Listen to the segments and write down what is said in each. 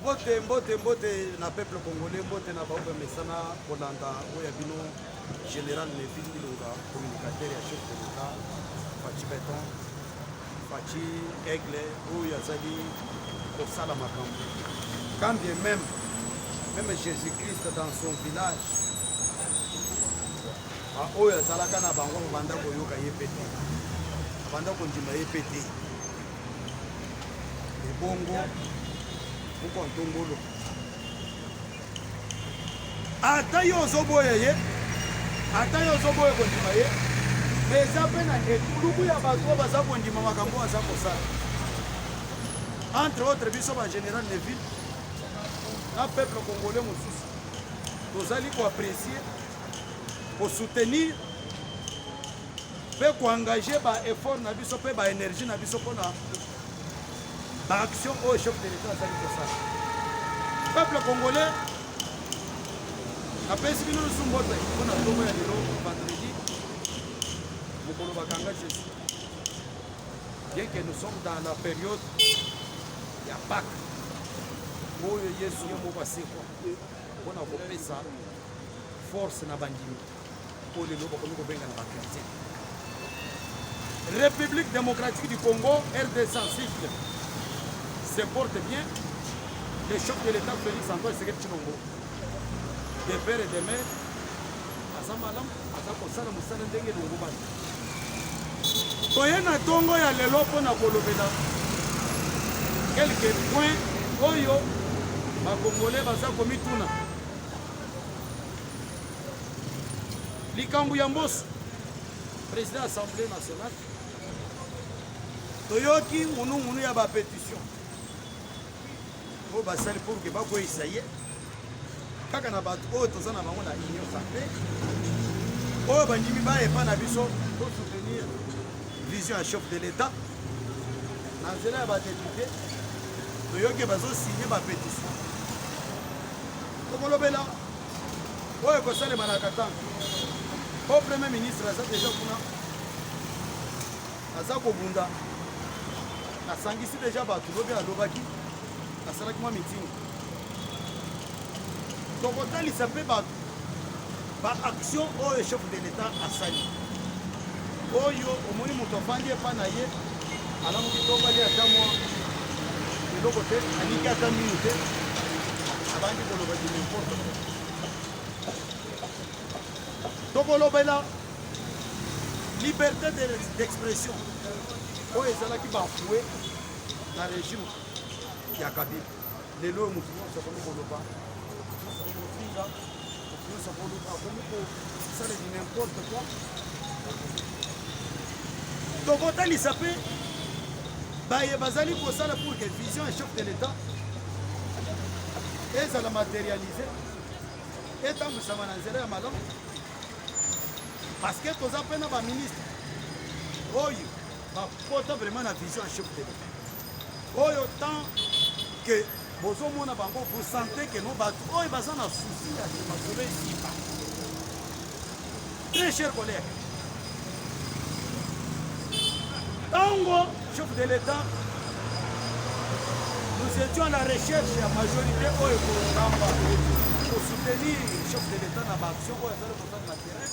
mbote mbote mbote na peuple congolais mbote na baoyo bamesana kolanda oyo ya bino général levi ilonga communicateur ya chef de l'état faci beton faci aigle oyo azali kosala makambo quand bien même même jésus christ dans son village Ba oyo azalaka na bango babanda koyoka ye mpe te, babanda kondima ye mpe te. Ebongo moko ntongolo, ata yo ozoboya ye, ata yo ozoboya kondima ye, me eza mpe na etuluku ya bato oyo baza kondima makambo oyo aza kosala. Entre autres biso ba general Neville na peuple congolais mosusu tozali koaprecie kosoutenir mpe koengage baeffort na biso mpe baenergie na biso mpona baaction oyo chef de l'etat azali kosala peuple congolais napesi bino lisusu mbote mpona ntongo ya lelo vendredi mokolo bakanga jésus bien que nous sommes dans la période ya pake oyo yesu ye moko asekwa mpona kopesa force na bandimi oyo lelo bakomi kobenga na bakretien république démocratique du congo rdc site se porte bien le chef de l'état félix antoine sekedi tshilombo de père et de mère aza malamu aza kosala mosala ndenge elongobani toye na ntongo ya lelo mpo na kolobela quelques points oyo bakongole baza komituna likambo ya mboso président assemblée nationale toyoki ngunungunu ya bapétition oyo basali pour ke bakweyisa ye kaka na bato oyo toza na bango na union sacré oyo bandimi bayepa na biso tosoutenir vision ya chef de l'état na nzela ya badepute toyoki bazosigne bapétition tokolobela oyo ekosalema na katanga po premier ministre aza deja kuna aza kobunda asangisi deja bato lobi alobaki asalaki mwa mitingi tokotalisa mpe bato Ba actions oyo chef de l'Etat asali oyo omoni moto afandi epa na ye alamuki tobali ata mwa eloko te alingi ata minu te abandi koloba du n'importe quoi tokolobela liberté d'expression oyo ezalaki bafoue na régime ya kabila lelo oyo moto nyonso akomi koloba moto nyonso akomi kofinga moto nyonso akomi kosala du n'importe quoi tokotalisa mpe baye bazali kosala pour que vision ya chef de l'état ezala materialise etambwisama na nzela ya malamu parce que toza mpe na baministre oyo bapota vraiment na vision ya chef de l'état Oyo tant que bozo mona bango vous sentez que non batu oyo baza na souci ya masolo esimba. Très cher collègue. Tango chef de l'État nous étions à la recherche ya majorité oyo ekokamba kosoutenir chef de l'État na baaction oyo azali kosala na terrain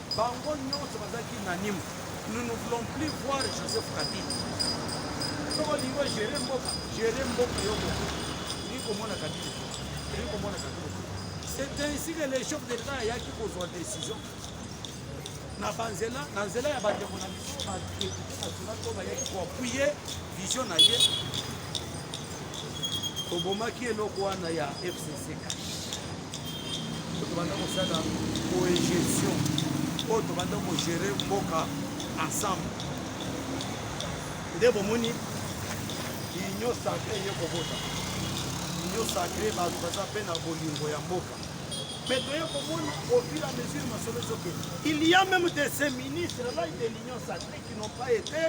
Bango nionso bazalaki unanime nous ne voulons plus voir Joseph Kabila. Soki olingi ogere mboka, gere mboka yo moko. Olingi komona Kabila te, olingi komona Kabila te. C'est ainsi que le chef d'État ayaki kozwa décision na banzela na nzela ya bandeko na biso badepute national oyo bayaki koapuye vision na ye tobomaki eloko wana ya fcc tobanda kosala coegestion oyo tobanda kogere mboka ensemble nde bomoni union sacre eye kobota union sacre bato baza mpe na bolingo ya mboka mais toye komona au fur et à mesure masolo ezokende il y a même de ces ministres là de l'union sacre qui n'ont pas été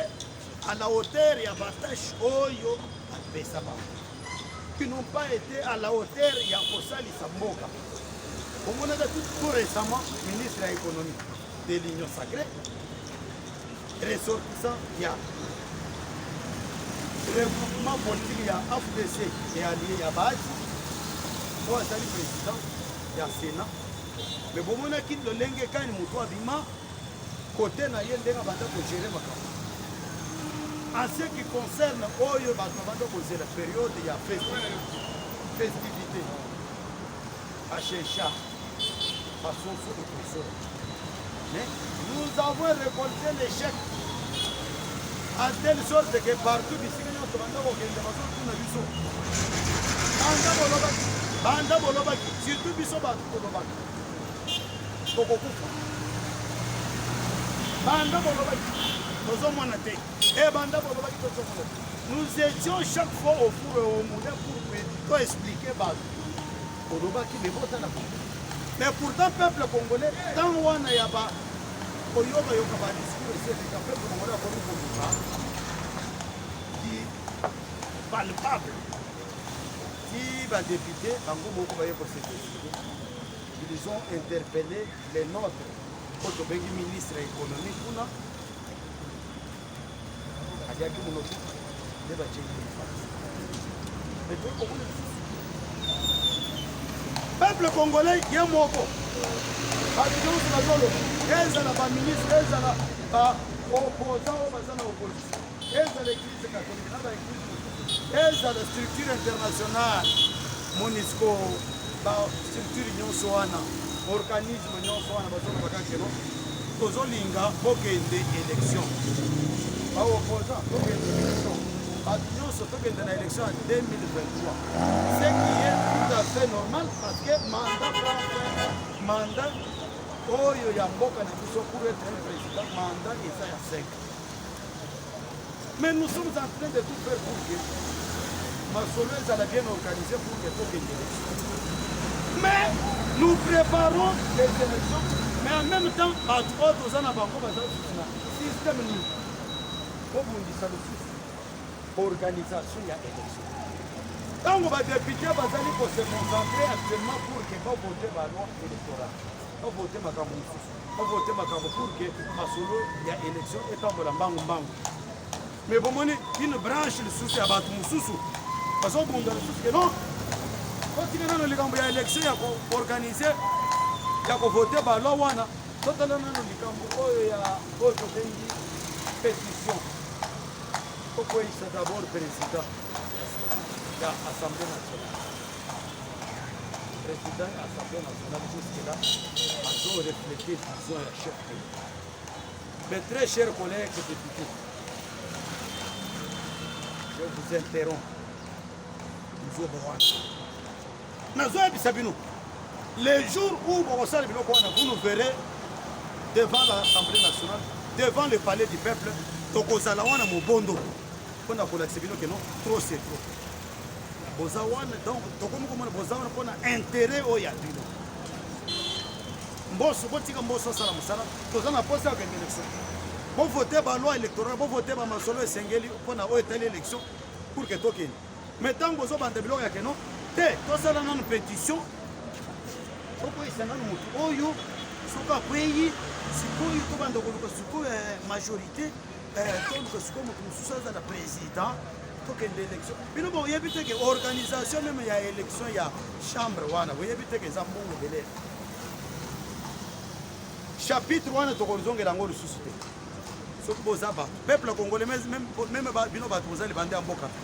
à la hauteur ya batâche oyo apesa bango qui n'ont pas été à la hauteur ya kosalisa mboka omonaka tout récemment ministre ya économie de l'union sacrée ressortissant ya regroupement politique ya afdc et allié ya baati oyo azali président ya sénat me bomonaki lolenge kani moto abima Cote na ye ndenge abanda ko gerer makambo en ce qui concerne oyo bato babanda kozela periode ya festivité bachecha basoso ekoso mais nous avons récolté l'échec en telle sorte que partout bisika nyonso banda kokende bazotuna biso banda bolobaki banda bolobaki surtout biso bato tolobaki bokokufa banda bolobaki tozomona te e banda bolobaki tozomona te nous étions chaque fois au four et au moulin pour to expliquer bato olobaki bebota na bango mais pourtant peuple congolais ntango wana ya ba koyokayoka badiscour eseleka peuple congolais akomi koluka di palpable Ti ba depute bango moko baye ko se décider. Ils ont interpellé les nôtres mpo tobengi ministre ya économie kuna aliaki monoko nde batyeli lifasi mais toyi komona lisusu peuple congolais ye moko bato nyonso bazoloba ezala baministre ezala baopposant oyo baza na opposition ezala eglise katolike na ba eglise mosusu ezala structure internationale monisco ba structure nyonso wana organisme nyonso wana bazoloba kakeno tozolinga bokende élection baoposa tokende élection bato nyonso tokende na élection ya 2023 ce qui est tout à fait normal parce que mandat mandat oyo ya mboka na biso pour être un président mandat eza ya sec Mais nous sommes en train de tout faire pour que masolo ezala bien organisé pour que tokende élection. Mais nous préparons les élections, mais en même temps bato oyo toza na bango baza lisusu na système nini kobundisa lisusu organisation ya élection. Ntango badepute bazali kose concentrer actuellement pour que bavote baloi électorale bavote makambo mosusu ba vote makambo pour que masolo ya élection etambola mbangu mbangu mais bomoni une branche lisusu ya bato mosusu bazobunda lisusu ke non otika nano likambo ya élection ya koorganize ya kovote baloi wana totala nano likambo oyo ya oyo tobengi pétition okweyisa d'abord président ya assemblée nationale Président ya Assemblée nationale jusque là azo refléter vision ya chef de l'État. Mes très chers collègues députés, je vous interromps. Nzobo wana. Nazoyebisa bino les jours où bokosala biloko wana vous nous verrez devant l'assemblée nationale devant le palais du peuple tokozala wana mobondo mpo na kolakisa bino keno trop c'est trop boza wana donc tokomi komona boza wana mpona interet oyo ya bino mboso botika mboso asala mosala toza na mposa ya kokende election bovote baloi électoral bovote bamasolo esengeli mpona oyo etali election pour ke tokende mais ntango bozobanda biloko ya keno te tosala nanu pétition tokoyisa nanu motu oyo soki akweyi sikoyo tobanda koluka sikoyo eh, majorité tokende élection bino boyebi te ke organisation meme ya élection ya chambre wana boyebi te ke eza mbongo ebele chapitre wana tokozongela yango lisusu te soki boza bato peuple congolais meme bino bato boza libanda ya mboka te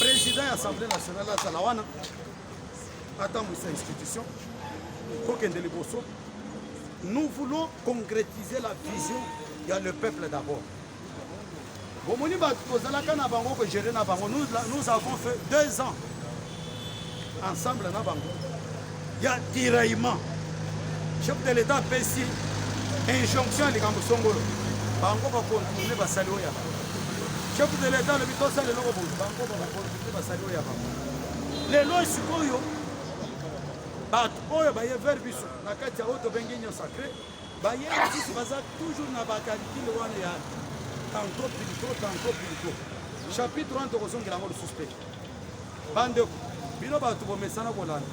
Président ya Assemblée nationale azala wana atambwisa institution kokende liboso. Nous voulons concrétiser la vision ya le peuple d'abord. bomoni bato tozalaka na bango kogere na bango nous avons fait deux ans ensemble na bango ya tiraillement chef de l'état apesi injonction ya likambo songolo bango bakontourne basali oyo ya bango chef de l'état alobi tosala eloko boye bango bakontourne basali oyo ya bango lelo sikoyo bato oyo baye ver biso na kati ya oyo tobengi union sacré baye lisusu baza toujours na bakalikile wana ya tanto pilito tanto pilito chapitre wana tokozongela yango lisusu te Bandeko, bino bato bomesana kolanda,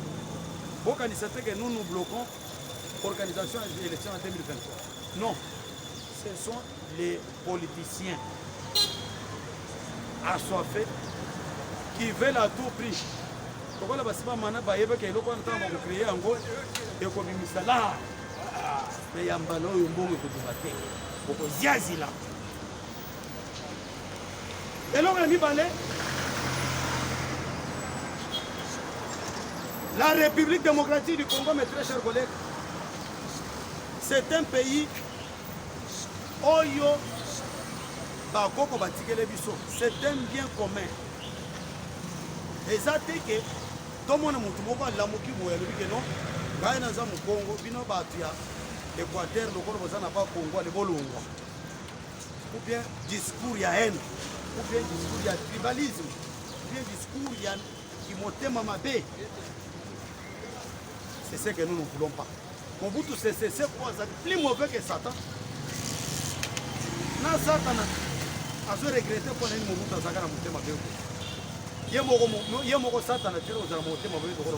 bokanisa te que nous nous bloquons organisation ya élection en 2023. Non, ce sont les politiciens assoiffés qui veulent à tout prix lokola basima mana bayebaka eloko wana ntango bakokreye yango ekobimisa la me ya mbala oyo mbongo ekobima te okoziazila eloko ya mibale la république démocratique du congo mes très chers collègues c'est un pays oyo bakoko batikele biso c'est un bien commun eza te ke tomona motu moko alamuki boye alobi ke non ngai naza mokongo bino bato ya équateur lokola boza na bakongo ale bolongwa ou bien discours ya haine ou bien discours ya tribalisme ou bien discours ya kimotema mabe c'est ce que nous ne voulons pas mobutu sesese po azali plus mauvais que satan na satana azo regrete mpo na nini mobutu azalaka na motema mabe ye moko satana tena ozala motema mabe lokola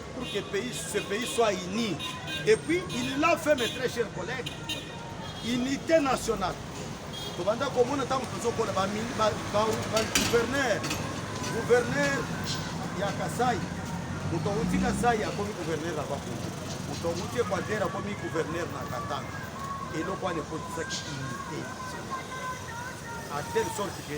pour que pays, ce pays soit uni. Et puis, il l'a fait, mes très chers collègues, unité nationale. tobanda komona ntango tozokola bagouverneur gouverneur ya kasai moto awuti kasai akomi gouverneur na bakongo moto awuti equateur akomi gouverneur na katanga eloko wana ekotisaki unité à telle sorte que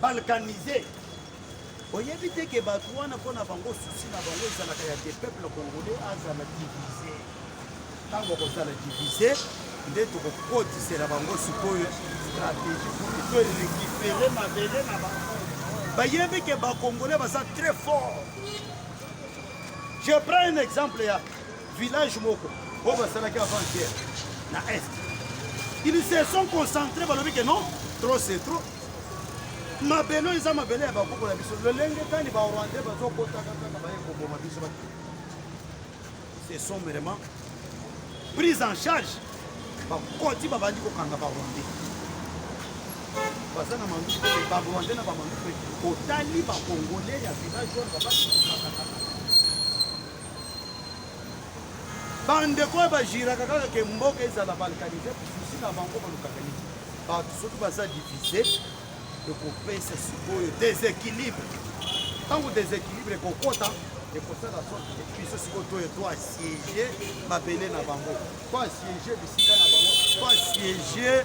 balkanise oyebi te ke bato wana mpo na bango susi na bango ezalaka ya te peuple congolais azala divise ntango akozala divise nde tokokotisela bango sikoyo stratégie to récupere mabele na bango bayebi ke bacongolais baza très fort je prends un exemple ya village moko oyo basalaki avant guerre na est ils se sont concentrés balobi ke non trop c'est trop mabele oyo eza mabele ya bakoko na biso lolenge kani barwandais bazokotaka kaka baye koboma biso baki ce sont vraiment prise en charge bakoti babandi kokanga barwandais baza na manduku te barwandais na bamanduku te otali bakongole ya village oyo babandi kokakakaka bandeko oyo bajiraka kaka ke mboka ezala balkanise susi na bango balukaka nini bato soki baza divise ekopesa sikoyo desequilibre ntango desequilibre ekokota ekosala soki biso sikoyo toye to asiege mabele na bango to asiege bisika na bango to asiege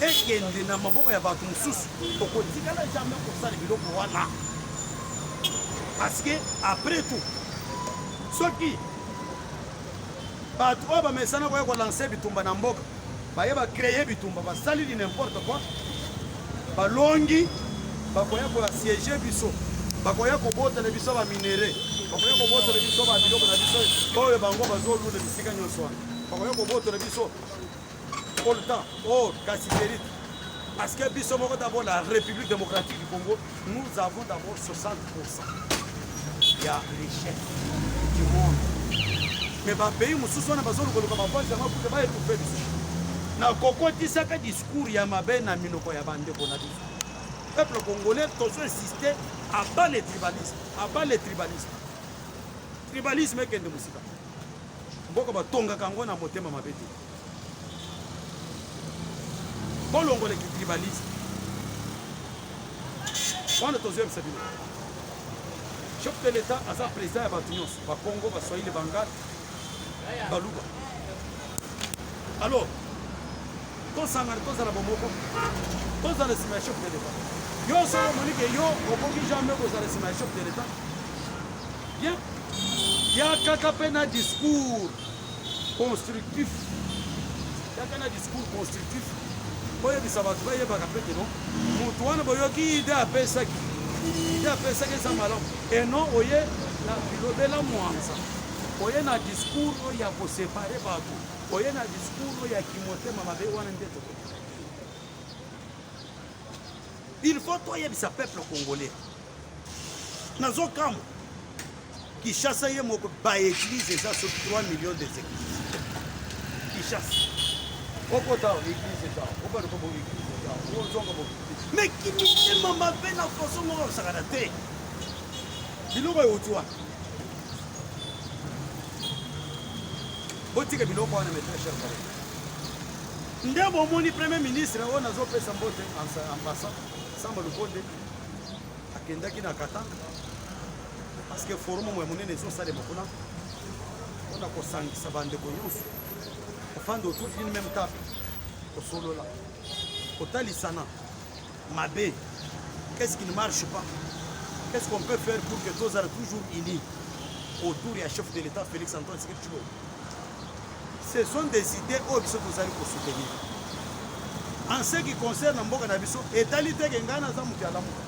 ekende na maboko ya bato mosusu okotikala jamais kosala biloko wana parce que après tout soki bato oyo bamesana koya kolanse bitumba na mboka baye bacreye bitumba basali li n'importe quoi balongi bakoya koasiege biso bakoya kobotela biso baminere bakoya kobotela biso babiloko na biso oyo bango bazolula bisika nyonso wana bakoya kobotela biso coltan or casiderite parce que biso moko d'abord la république démocratique du congo nous avons d'abord 60 ya richesse du monde mais bapays mosusu wana bazolukoluka bavasi yango kuta baetouffe biso na kokotisaka discours ya mabe na minoko ya bandeko na biso peuple congolais tozo insiste aba le tribalisme aba le tribalisme tribalisme ekende mosika Mboka batongaka yango na motema mabe te. Bolongola kitribaliste wana tozoyebisa bino. Chef de l'Etat aza président ya bato nyonso, bakongo, baswahili, bangal, baluba. Alors tosangana tozala bomoko, tozala nsima ya chef de l'Etat. Yo solo omoni ke yo okoki jamais kozala nsima ya chef de l'Etat Bien. Ya kaka pe na discours constructif. Ya kaka na discours constructif. Boyebisa bato bayebaka pe keno moto wana boyoki ide apesaki ide apesaki eza malamu eno oye na bilobela mwanza oye na discours oyo ya kosepare bato oye na discours oyo ya kimotema mabe wana nde tokoki il faut toyebisa peuple congolais nazo kamwa Kishasa ye moko ba église eza sur 3 millions des églises Kishasa okota église eza okota ko église eza ozonga bo mais kimitema mabe na façon moko osakana te biloko euti wana botika biloko wana mes très chers collègues nde bomoni premier ministre oyo nazopesa mbote en passant samba lukonde akendaki na katanga parce que forum ya monene ezosalema kuna mpona kosangisa bandeko nyonso kofanda autour d'une même table kosolola kotalisana mabe qu'est-ce qui ne marche pas qu'est-ce qu'on peut faire pour que tozala toujours unis autour ya chef de l'état félix antoine tshisekedi tshilombo Ce sont des idées oyo biso tozali ko soutenir. En ce qui concerne mboka na biso, etali te ke ngai naza moto ya lamuka.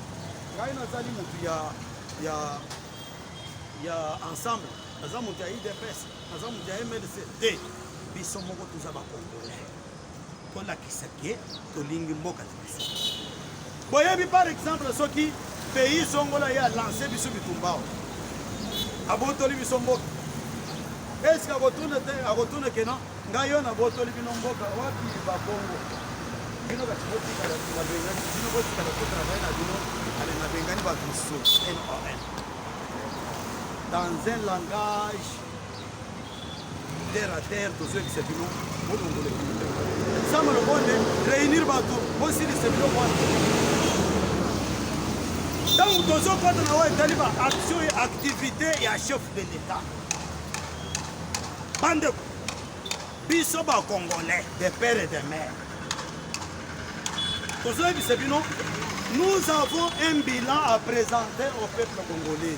Ngai nazali moto ya ya ya ensemble, naza moto ya IDPS, naza moto ya MLC te. Biso moko toza ba Congolais. tolakisa ke tolingi mboka na biso boyebi par exemple soki pays zongola ye alance biso bitumbao abotoli biso mboka eske akotuna te akotuna kena ngai yo nabotoli bino mboka wapi babongo bino kati botikala na bengani bino botikala kotravaille na bino ale na bengani bato mosusu non dans un langage terre à terre tozwekisa bino bolongole sama lokonde réunir bato bosilisa biloko wana ntango tozokota na oyo etali ba action ya activité ya chef de l'état bandeko biso bacongolais de père et de mère tozoyebisa bino nous avons un bilan à présenter au peuple congolais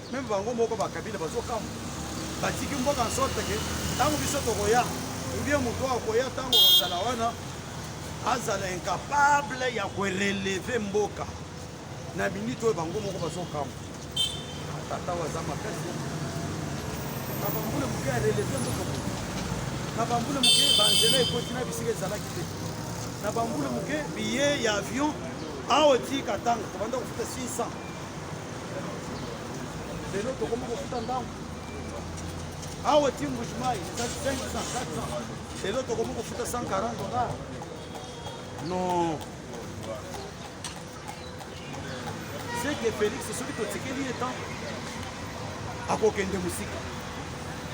Meme bango moko ba Kabila bazo kamwa. Batiki mboka en sorte que tango biso tokoya ou bien moto akoya tango kozala wana azala incapable ya ko relever mboka na minute oyo bango moko bazo kamwa. Tata waza makasi. Na bambula moke ya relever mboka. Na bambula moke banzela ekoti na bisika ezalaki te. Na bambula moke billet ya avion awa ti Katanga tobanda kofuta 600 lelo tokomi kofuta ndambo awa ti mbujimai eza 500 400 lelo tokomi kofuta 140 dollars non c'est que félix soki totikeli ye temps akokende mosika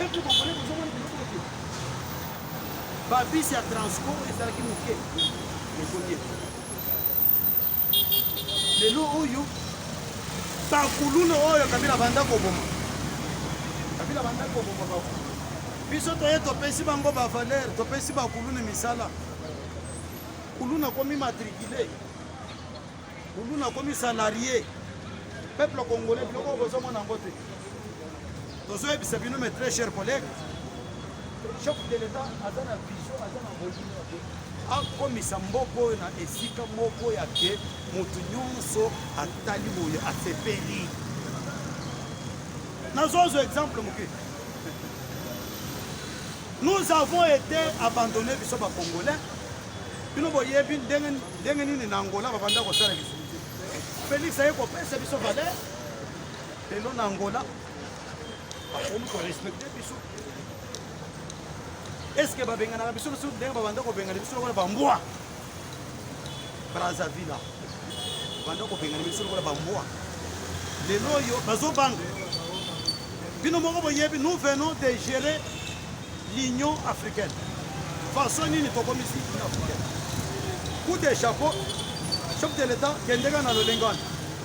epo bakole kozomona biloko ete babisi ya transport ezalaki moke ekomi Lelo oyo ba kuluna oyo Kabila banda koboma, Kabila banda koboma ba kuluna. Biso toye topesi bango ba valeur, topesi ba kuluna misala. Kuluna komi matricule, kuluna komi salarié. Peuple congolais biloko bozomona yango te. tozoyebisa bino mes très chers collègues chef de l'etat aza na vision aza na volume ya boye akomisa mboka oyo na esika moko ya ke moto nyonso atali boye asepeli nazozwa exemple moke nous avons été abandonné biso bacongolais bino boyebi ndenge nini na angola babanda kosala biso felix aye kopesa biso valeur lelo na angola eske babenganaka biso biso ndenge babanda kobengana biso lokola bambwa brazzaville banda kobengana biso lokola bambwa lelo oyo bazobanga bino moko boyebi nous venons de gérer l'union africaine façon nini tokomisi union africaine coup de chapeau chef de l'état kendeka na lolenge wana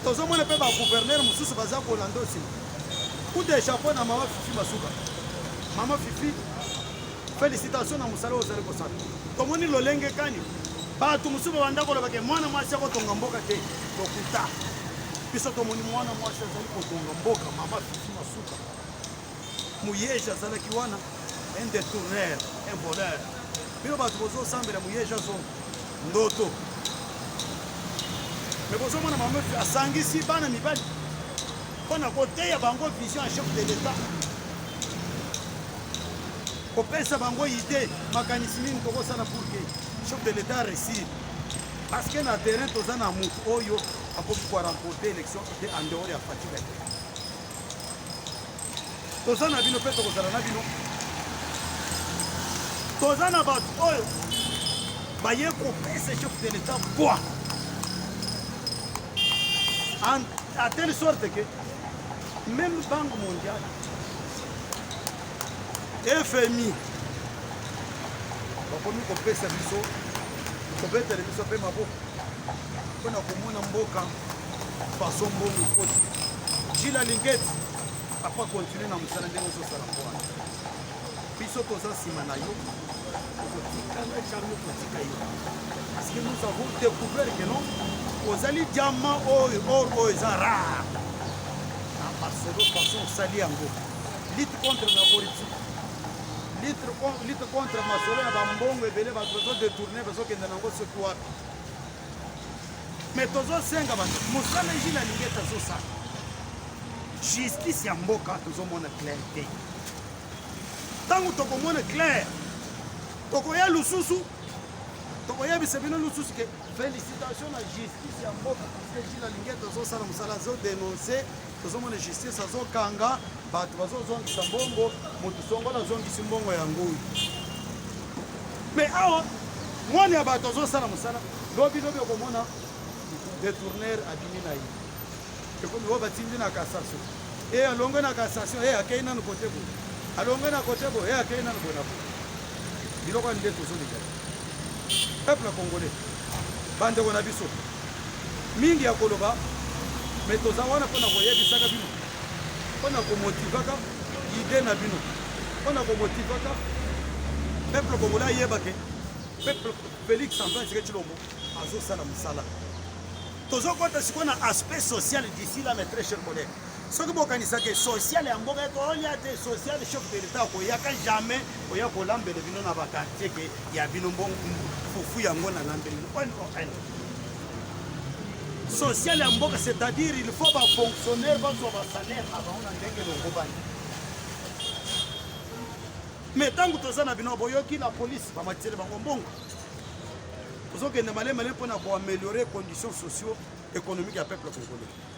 tozomona mpe ba gouverneur mosusu baza kolanda osi coup de chapeau na mama fifi masuka mama fifi félicitation na mosala ozali kosala tomoni lolenge kani bato mosusu babanda koloba ke mwana mwasi akotonga mboka te lokuta biso tomoni mwana mwasi azali kotonga mboka mama fifi masuka muyeje azalaki wana un détourneur un voleur bino bato bozosambela muyeje azo ndoto me bozomona mama asangisi bana mibali mpo na koteya bango vision ya chef de l'etat kopesa bango ide makanisi nini tokosala pour que chef de l'etat réussir parce que na terrain toza na motu oyo akoki koaremporte élection te en dehors ya fatigue toza na bino mpe tokozala na bino toza na bato oyo baye kopesa chef de l'etat poids à telle sorte que même banque mondiale fmi bakomi kopesa biso kobetela biso mpe maboko mpo na komona mboka façon mbongo ekoti jila lingeti apa continue na mosala ndenge ozosala mpo wana biso toza nsima na yo okotikala jamais kotika yo parce que nous avons découvert que non ozali diamant oyo or oyo eza rare na masolo façon osali yango lutte contre la corruption lutte contre masolo ya bambongo ebele bato bazodetourne bazokende nango soki wapi me tozosenga bato mosala jile alingi ete azosala justice ya mboka tozomona claire te ntango tokomona claire tokoya lususu tokoyebisa bino lususu ke félicitation na justice ya mboka parce que jile alingi ete azosala mosala azodenonse tozomona justice azokanga bato bazozongisa mbongo moto songola azongisi mbongo ya ngoi me awa mwana ya bato azosala mosala lobi lobi okomona detourner abimi na ye ekomi oyo batindi na cassation e alongwe na cassation e akei nanu kote boye alongwe na kote boye e akei nanu boye na boye biloko ya nde tozolinga Peuple congolais ba ndeko na biso mingi ya koloba mais toza wana mpo na koyebisaka bino mpo na komotivaka ide na bino mpo na komotivaka peuple congolais ayeba ke peuple Felix Antoine Tshisekedi Tshilombo azosala mosala tozokota sikoyo na aspect social d'ici là mes très chers collègues soki bokanisa ke social ya mboka ekolia te social chef de l'etat akoyaka jamais oya kolambela bino na bakartier ke ya bino mbongo fufu yango nalambeli on on social ya mboka c'est-à-dire il faut bafonctionnaire bazwa basalaire na bango na ndenge elongobani mais ntango toza na bino boyoki na polise bamatiseli bango mbongo tozokende malemale mpo na koameliore conditions socio économique ya peuple congolais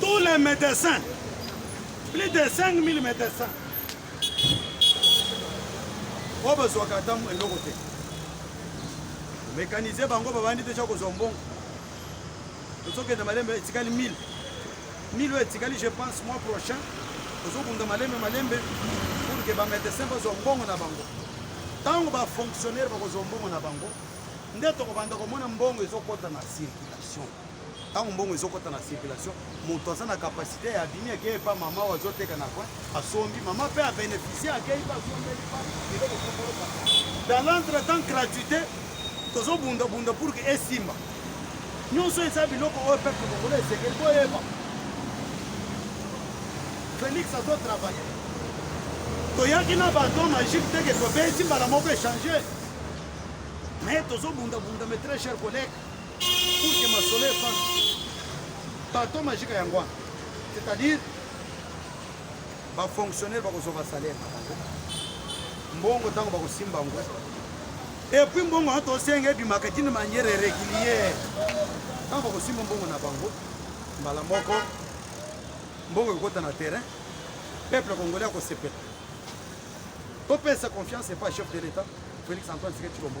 Tous les médecins, plus de 5000 médecins, oyo bazwaka ata eloko te mécanise bango babandi deja kozwa mbongo tozokenda malembe etikali 1000 1000 oyo etikali je pense mois prochain tozokunda malembe malembe pour ke bamédecin bazwa mbongo na bango ntango bafonctionnaire bakozwa mbongo na bango nde tokobanda komona mbongo ezokɔta na circulation ntango mbongo ezokota na circulation moto aza na kapasite ya abimi akei epa mama oyo azoteka na coin asombi mama mpe abeneficie akei mpe asombeli pa biloko kokoloka dans l'entre temps gratuité tozobundabunda pour ke esimba nyonso eza biloko oyo peuple kongola esengeli boyeba félix azotravaille toyaki na bato magique teke tobeti mbala moko echange mais tozobundabunda mes très cher collègue Kuke masolo efandi. Bato majika yango wana. C'est-à-dire ba fonctionnaire bakozwa ba salaire na bango. Mbongo ntango bakosimba yango. Et puis mbongo wana tosenga ebimaka d'une manière régulière. Ntango bakosimba mbongo na bango mbala moko mbongo ekokota na terrain peuple congolais akosepela topesa confiance epa chef de l'état félix antoine tshisekedi tshilombo